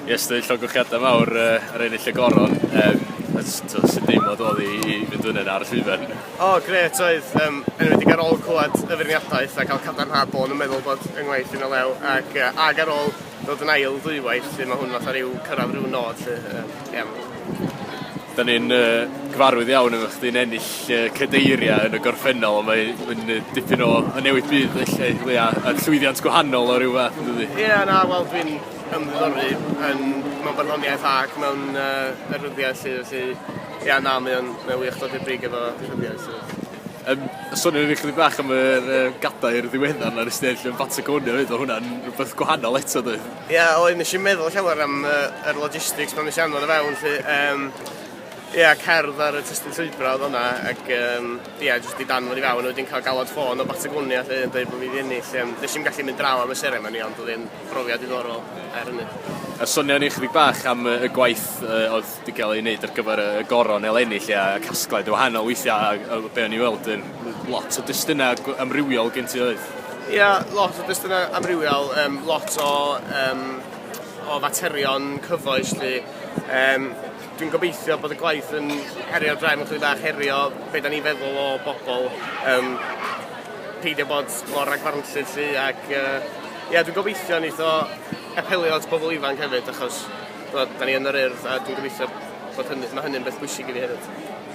Ie, so dwi'n llongychiadau mawr uh, ar ennill y goron. Um, sy'n deimlo dod i, i fynd fyny ar y llwyfan? O, oh, gret oedd. Um, enwedig ar ôl clywed y feirniadaeth a cael cadarnhad bod yn meddwl bod yng ngwaith yn y lew ac, uh, ag ar ôl dod yn ail ddwywaith lle mae hwn fatha rhyw cyrraedd rhyw nod lle. Um, yeah. Da ni'n uh, gyfarwydd iawn efo chdi'n ennill uh, cadeiriau yn y gorffennol, ond mae'n uh, dipyn o newid byd felly, Lea, a llwyddiant gwahanol o ryw fath, ydy? Ie, yeah, na, wel, dwi'n ymddiddori yn mewn barddoniaeth ac mewn uh, rhyddiaith sydd, felly, ia, na, mae o'n wych dod i'r brig efo rhyddiaith sydd. Um, sôn yn eich bach am yr uh, gadair ddiweddar na'r ystell yn Patagonia fyd, o hwnna'n rhywbeth gwahanol eto dwi. Ia, yeah, oedd nes i'n meddwl llawer am uh, yr logistics pan nes i anfod o fewn, lle, um, Ie, yeah, cerdd ar y testyn llwybra oedd hwnna, ac ie, um, yeah, jyst i dan fod i fewn, a wedi'n cael galwad ffôn o Batagonia lle yn dweud bod fi wedi ennill. Um, nes i'n gallu mynd draw am y seren ni, ond oedd e'n Profiad diddorol, er hynny. A sonio ni chydig bach am y y gwaith yy o'dd 'di ga'l ei neud ar gyfer y y goron eleni 'lly a y casgliad yn wahanol weithia' a a o be' o'n i weld yn lot o destuna gw- amrywiol gen ti oedd? Ia lot o destuna amrywiol yym lot o yym o faterion cyfoes 'lly yym dwi'n gobeithio bod y gwaith yn herio drefn chydig bach herio be' 'dan ni'n feddwl o bobol yym peidio bod mor ragfarnllyd 'lly ac yy Ie dwi'n gobeithio neith o apelio at bobl ifanc hefyd achos t'mod 'dan ni yn yr Urdd a dwi'n gobeithio bod hynny... Ma' hynny'n beth bwysig i fi hefyd.